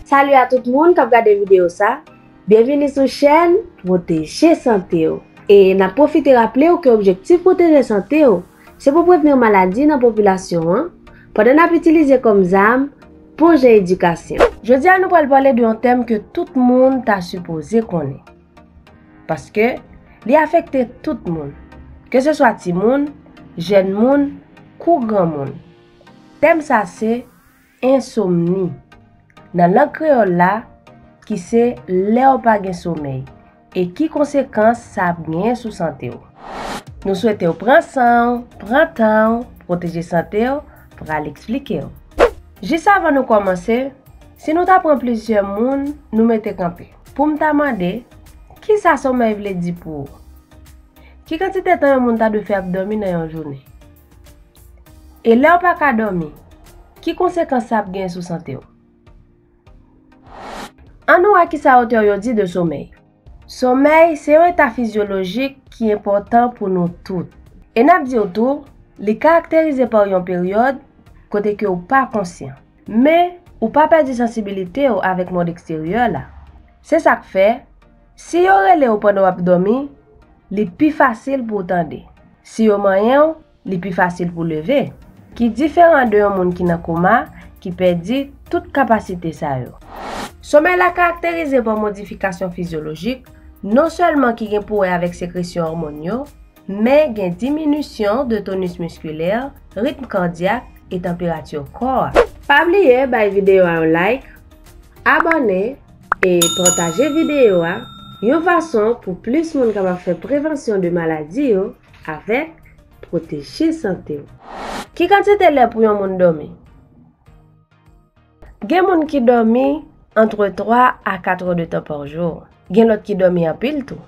Salut a tout moun kap gade video sa, byenvini sou chèn pwoteje sante w e nap pwofite raple w ke objektif pwoteje sante w Se pou prevenir maladi nan popilasyon an, pandan n ap itilize kòm zam bon jan edikasyon. Jodi a nou pral pale de yon tèm ke tout moun ta sipoze konnen. Paske, li afekte tout moun. Ke se swa timoun, jèn moun, kou granmoun. Tèm sa se. Ensomni, nan lang kreyòl la, ki se lè w pa gen somèy, e ki konsekans sa ap genyen sou sante w. Nou swete w pran san w, pran tan w, pwoteje sante w, pral eksplike w. Jis avan nou kòmanse, si nou ta pran plizyè moun, nou mete kanpe, pou m ta mande, kisa somèy vle di pou ou? Ki kantite tan yon moun ta dwe fè ap dòmi nan yon jounen? E lèw pa ka dòmi, ki konsekans sa ap gen sou sante w? An nou wè kisa otè yo di de somèy. Somèy se yon eta fizyolojik ki enpòtan pou nou tout. E nap diw tou, li karakterize pa yon peryòd kote ke ou pa konsyan. Men, ou pa pèdi sansibilite w avèk mond eksteryè la. Se sak fè, Si yo rele w pandan w ap dòmi, li pi fasil pou w tande. Si yo manyen w, li pi fasil pou w leve. Ki diferan de yon moun ki nan koma, ki pèdi tout kapasite sa yo. Somèy la karakterize pa modifikasyon fizyolojik, non sèlman ki gen pou wè avèk sekresyon òmòn yo, men gen diminisyon de tonus miskilè, ritm kardyak, e tanperati kò a. Pa bliye bay videyo a yon like, abòne, E pataje videyo a yon fason pou plis moun kapab fè prevansyon de maladi yo avèk pwoteje sante w. Ki kantite lè pou yon moun dòmi? Gen moun ki dòmi antre 3 a 4 è de tan pa jou. Gen lòt ki dòmi anpil tou.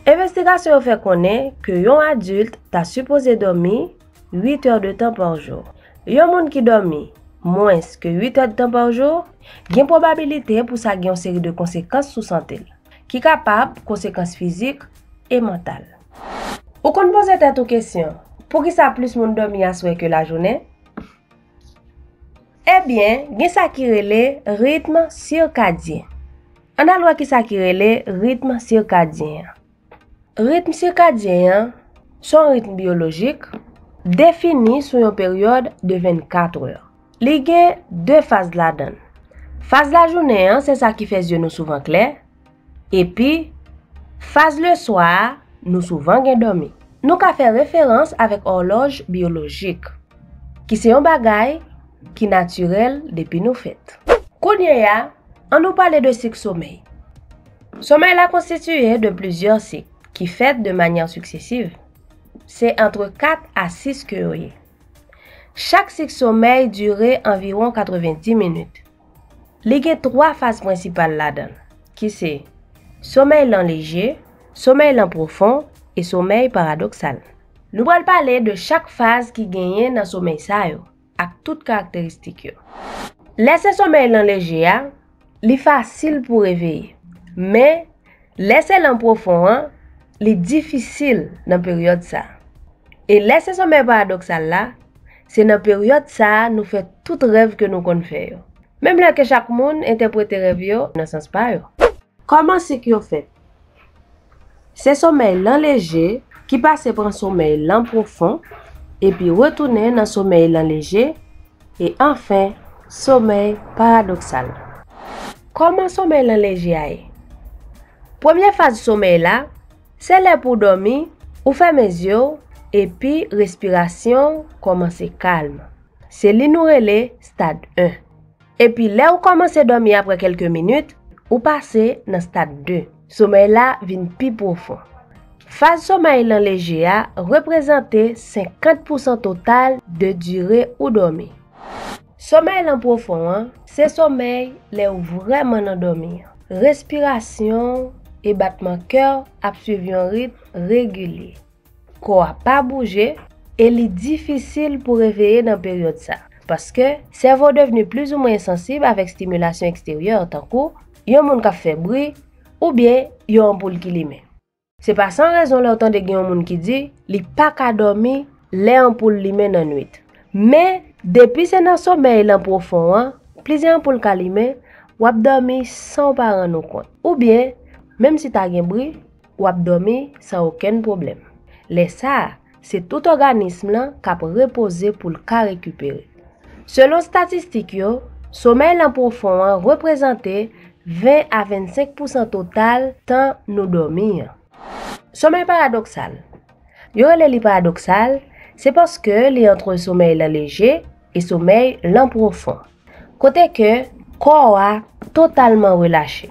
Envestigasyon yo fè konnen ke yon adilt ta sipoze dòmi 8 heures de tan par jou. Yon moun ki dòmi mwens ke 8 èdtan par jou, gen pwobabilite pou sa gen yon seri de konsekans sou sante l, ki kapab konsekans fizik e mantal. Ou konn poze tèt ou kesyon, poukisa plis moun dòmi aswè ke lajounen? Ebyen, gen sa ki rele ritm sirkadyen. Ann al wè kisa ki rele ritm sirkadyen an. Ritm sikadyen an se yon ritm biyolojik defini sou yon peryòd de 24 è. Li gen 2 faz ladan l. Faz lajounen an se sa ki fè zye nou souvan klè, epi faz leswa a nou souvan gen dòmi. Nou ka fè referans avèk òlòj biyolojik, ki se yon bagay ki natirèl depi nou fèt. Kounye a, an nou pale de sik somèy. Somay la konstitiye de plizyè sik ki fèt de manyè siksesiv. Se antre 4 a 6 ke yo ye. Chak sik somèy dire anviwon 90 minit. Li gen 3 faz prensipal ladan l, ki se, somèy lan leje, somèy lan pwofon e somèy paradoksal. Nou pral pale de chak faz ki genyen nan somèy sa yo. ak tout karakteristik yo. Lè se somèy lan leje a, li fasil pou reveye. Men, lè se lan pwofon an, li difisil nan peryòd sa. E lè se somèy paradoksal la, se nan peryòd sa nou fè tout rèv ke nou konn fè yo. Menm lè ke chak moun entèprete rèv yo nan sans pa yo. Kòman sik yo fèt? Se somèy lan leje ki pase pran somèy lan pwofon, epi retounen nan somèy lan leje, e anfen, somèy paradoksal. Kòman somèy lan leje a ye? Premye faz somèy la, se lè pou w dòmi, ou fèmen zye w, epi respirasyon w kòmanse kalm. Se li nou rele stad 1. Epi lè ou kòmanse dòmi aprè kèlke minit, ou pase nan stad 2. Somèy la vin pi pwofon. Faz somèy lan leje a reprezante 50 pousan total de dire ou dòmi. Somèy lan pwofon an, se somèy lè ou vrèman nan dòmi an. Respirasyon ou e batman kè w ap swiv yon ritm regilye. Kò a pa bouje e li difisil pou reveye nan peryòd sa paske sèvo devni plizoumwen ensansib avèk stimilasyon eksteryè tankou yon moun k ap fè bri oubyen yon anpoul ki limen. Se pa san rezon lè w tande gen yon moun ki di li pa ka dòmi lè anpoul limen nan nuit. Men, depi se nan somèy lan pwofon an, plizyè anpoul ka limen, w ap dòmi san w pa rann ou kont. Oubyen, menm si ta gen bri, w ap dòmi san okenn pwoblèm. Lè sa a, se tout òganism lan k ap repoze pou l ka rekipere. Selon statistik yo, somèy lan pwofon an reprezante 20 a 25 pousan total tan nou dòmi an. Somèy paradoksal. Yo rele li paradoksal, se paske li antre somèy lan leje e somèy lan pwofon, kote ke kò a totalman relache.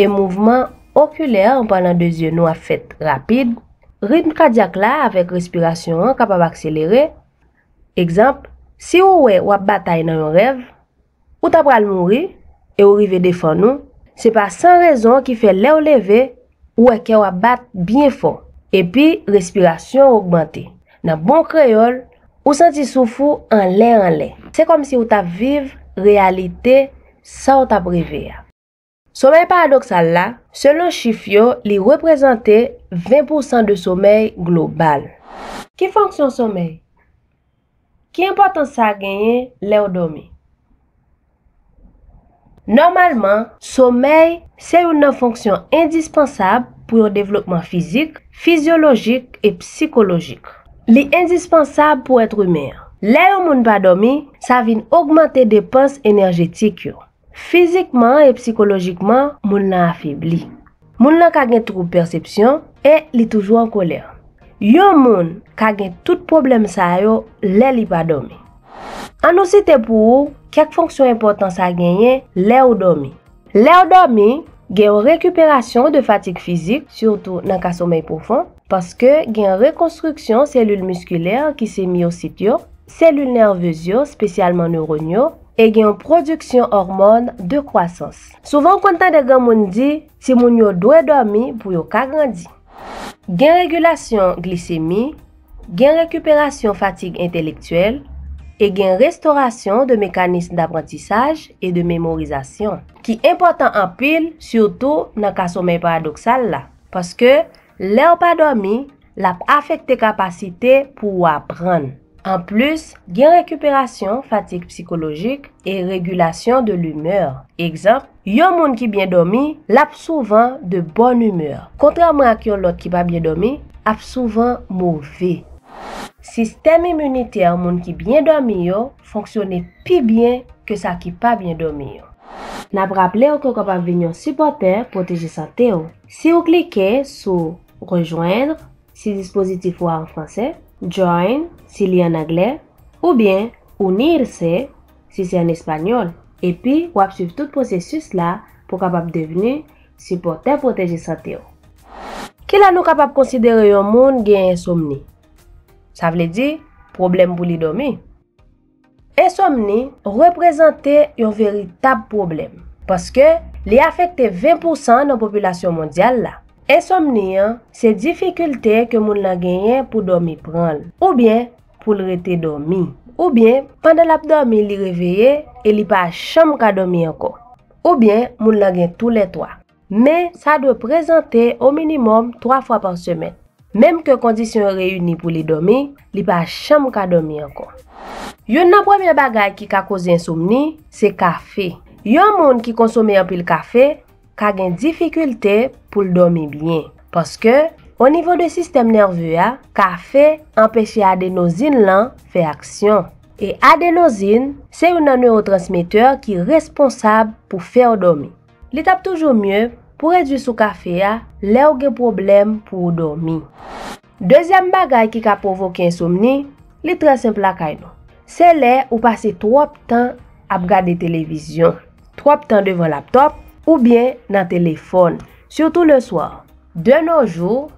E mouvman okilè an pandan 2 zye nou ap fèt rapid. Ritm kadyak la avèk respirasyon an kapab akselere. Egzanp, si ou wè w ap batay nan yon rèv, ou ta pral mouri e ou rive defann ou, se pa san rezon ki fè lè ou leve, Ou wè kè w ap bat byen fò, epi respirasyon w ogmante. Nan bon kreyòl, ou santi souf ou anlè anlè. Se kòmsi ou t ap viv reyalite sa w t ap reve a. Somèy paradoksal la, selon chif yo, li reprezante 20 pousan de somèy global. Ki fonksyon somèy? Ki enpòtans sa genyen lè w dòmi? Nòmalman, somèy se youn nan fonksyon endispansab pou yon devlopman fizik, fizyolojik e psikolojik. Li endispansab pou èt imen an. Lè yon moun pa dòmi, sa vin ogmante depans enèjetik yo. Fizikman e psikolojikman, moun lan afebli. Moun lan ka gen twoub pèsepsyon e li toujou an kolè. Yon moun ka gen tout pwoblèm sa yo lè li pa dòmi. An nou site pou ou kèk fonksyon enpòtan sa genyen lè ou dòmi. Lè ou dòmi, gen yon rekiperasyon de fatig fizik, sitou nan ka somèy pwofon, paske gen yon rekonstriksyon selil miskilè ki se miyosit yo, selil nèvez yo, spesyalman neurone yo, e gen yon pwodiksyon òmòn de kwasans. Souvan ou konn tande granmoun di timoun yo dwe dòmi pou yo ka grandi. Gen regilasyon glisemi, gen rekiperasyon fatig entelektyèl, e gen restorasyon de mekanism daprantisaj e de memorizasyon, ki enpòtan anpil sitou nan ka somèy paradoksal la, paske. Lè w pa dòmi, l ap afekte kapasite pou ou aprann. Anplis, gen rekiperasyon fatig psikolojik e regulasyon de l'humeur. Egzanp, yon moun ki byen dòmi, l ap souvan de bòn imè, kontrèman ak yon lòt ki pa byen dòmi, ap souvan move. Sistèm iminitè moun ki byen dòmi yo fonksyone pi byen ke sa ki pa byen dòmi yo. N ap raple w ke w kapab vin yon sipòtè pwoteje sante w. Si ou klike sou Rejoindre, si dispozitif ou a an franse, Join, si li an angle, oubyen Unirse, si se an espanyòl, epi w ap suiv tout pwosesis la pou w kapab devni Sipòtè Pwoteje Sante ou. Kilè nou kapab konsidere yon moun gen ensomni, sa vle di pwoblèm pou li dòmi? Ensomni reprezante yon veritab pwoblèm, paske li afekte 20 pousan nan popilasyon mondyal la. Ensomni an se difikilte ke moun lan genyen pou dòmi pran l, oubyen pou l rete dòmi, oubyen pandan l ap dòmi li reveye e li pa janm ka dòmi ankò, oubyen moun lan gen tou lè twa. Men, sa dwe prezante ominimòm 3 fwa pa semèn. Menm ke kondisyon yo reyini pou li dòmi, li pa janm ka dòmi ankò. Youn nan premye bagay ki ka koze ensomni, se kafe. Yon moun ki konsome anpil kafe ka gen difikilte pou l dòmi byen. Paske, o nivo de sistèm nève a, kafe anpeche adenozin lan fè aksyon. E adenozin, se youn nan newotransmetè ki responsab pou fè w dòmi. Li tap toujou mye pou redwi sou kafe a lèw gen pwoblèm pou ou dòmi. Dezyèm bagay ki ka pwovoke ensomni, li trè senp lakay nou. Se lè ou pase twòp tan ap gade televizyon, twòp tan devan laptòp oubyen nan telefòn, sitou le soir. De nos jours,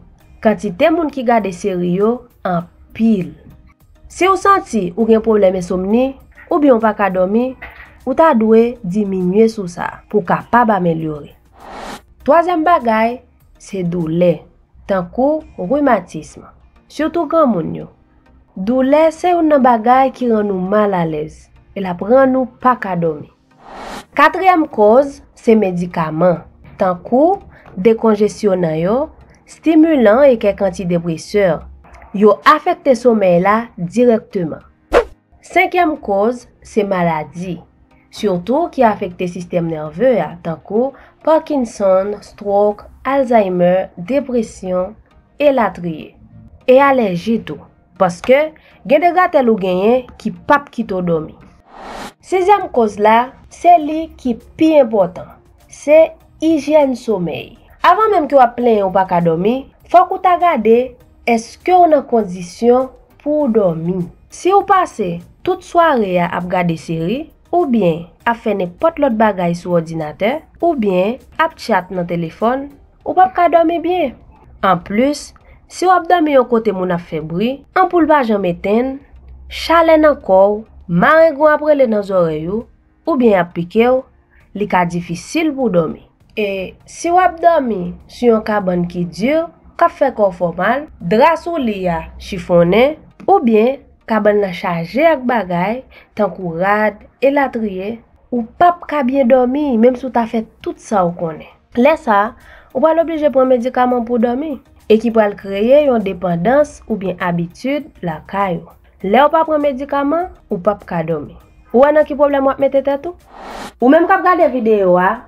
kantite moun ki gade seri yo anpil. Si w santi ou gen pwoblèm ensomni oubyen w pa ka dòmi, ou ta dwe diminye sou sa pou w kapab amelyore. Twazyèm bagay se doulè, tankou rimatism, sitou granmoun yo. Doulè se youn nan bagay ki rann ou mal alèz e l ap rann ou pa ka dòmi. Katriyèm koz se medikaman, tankou, dekonjesyonan yo, stimulan e kèk antidepresè. Yo afekte somèy la dirèkteman. Senkyèm koz se maladi, sitou ki afekte sistèm nève a, tankou, Parkinson, strok, Alzheimer, depresyon, elatriye. E alèji tou. Paske, gen de gratèl ou genyen ki p ap kite w dòmi. Sizyèm koz la, se li ki pi enpòtan, se ijyèn somèy. Avan menm ke w ap plenyen ou pa ka dòmi, fòk ou ta gade èske w nan kondisyon pou w dòmi. Si w pase tout sware a ap gade seri, oubyen ap fè nenpòt lòt bagay sou òdinatè, oubyen ap tchat nan telefòn, Ou pap ka dòmi byen. Anplis, si w ap dòmi yon kote moun ap fè bri, anpoul pa janm etenn, chalè nan kò w, marengwen ap rele nan zòrèy ou, oubyen y ap pike w, li ka difisil pou w dòmi. E si w ap dòmi sou yon kabann ki di, k ap fè kò w fè w mal, dra sou li a chifonnen, oubyen kabann lan chaje ak bagay, tankou rad, elatriye, ou pap ka byen dòmi menm si w ta fè tout sa w konnen. Lè sa a, ou pral oblije pran medikaman pou dòmi e ki pral kreye yon depandans oubyen abitid lakay ou. Lè ou pa pran medikaman, ou pap ka dòmi. Ou wè nan ki pwoblèm wap mete tèt ou? Ou menm kap gade videyo a,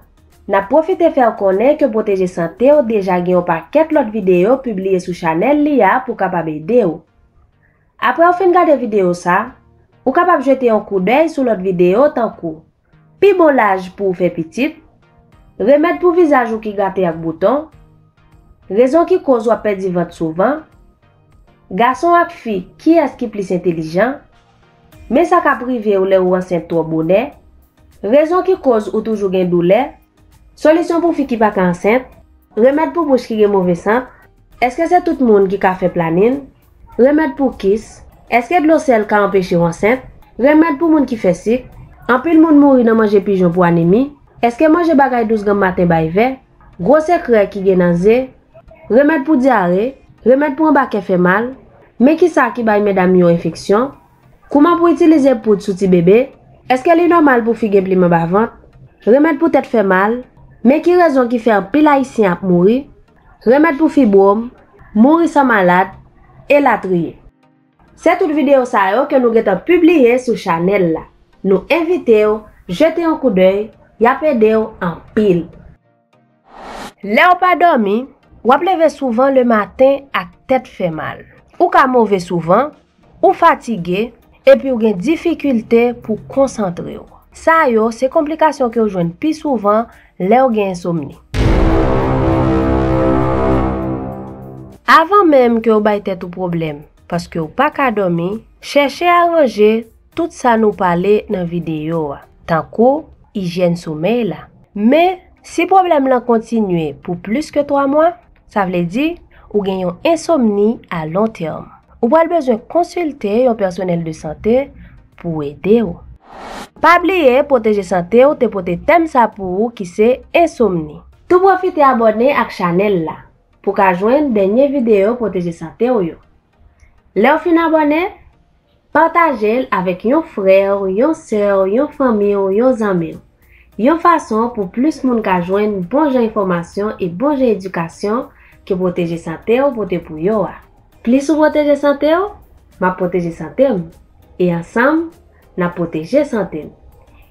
nap pwofite fè ou konnen ke Pwoteje Sante w deja gen yon pakèt lòt videyo pibliye sou chanèl li a pou kapab ede ou. Aprè ou fin gade videyo sa, ou kapab jete yon koudèy sou lòt videyo tankou. Pi bon laj pou w fè pitit, Remèd pou vizaj ou ki gate ak bouton, Rezon ki koz w ap pèdi vant souvan, Gason ak fi kiyès ki plis entelijan, Men sa k ap rive w lè ou ansent twò bonè, Rezon ki koz ou toujou gen doulè, Solisyon pou fi ki pa ka ansent, Remèd pou bouch ki gen move sant, Èske se tout moun ki ka fè planin, Remèd pou kis, Èske dlo sèl ka anpeche w ansent? Remèd pou moun ki fè sik, Anpil moun mouri nan manje pijon pou anemi, Èske manje bagay dous ganm maten bay vè? Gwo sekrè ki gen nan ze, Remèd pou dyare, Remèd pou anba kè fè mal, Men kisa ki bay medam yo enfeksyon, Kouman pou itilize poud sou ti bebe, Èske li nòmal pou fi gen plim anba vant? Remèd pou tèt fè mal, Men ki rezon ki fè anpil ayisyen ap mouri, Remèd pou fibwom, mouri san malad, elatriye. Se tout videyo sa yo ke nou gentan pibliye sou chanèl la. Nou envitew jete yon koudèy, yap edew anpil. Lèw pa dòmi, wap leve souvan le maten ak tèt fè mal. Ou ka move souvan, Ou fatige, epi w gen difikilte pou w konsantre w. Sa yo se konplikasyon ke w jwenn pi souvan lè w gen ensomni. Avan menm ke w bay tèt ou pwoblèm paske w pa ka dòmi, chèche aranje Tout sa nou pale nan videyo a, tankou ijyèn somèy la. Men, si pwoblèm lan kontinye pou plis ke 3 mwa, sa vle di ou gen yon ensomni a lon tèm. Ou pral bezwen konsilte yon pèsonèl de sante pou ede ou. Pa bliye pwoteje sante w te pote tèm sa pou ou ki se ensomni. Tou pwofite abòne ak chanèl la pou ka jwenn dènye videyo pwoteje sante w yo. Lèw fin abòne, patajel avèk yon frèw, yon sèw, yon fanmiw, yon zanmiw. Yon fason pou plis moun ka jwenn bon jan enfòmasyon e bon jan edikasyon ke Pwoteje Santew pote pou yo a. Plis ou pwoteje santew, map pwoteje santem. E ansanm, nap pwoteje sante n.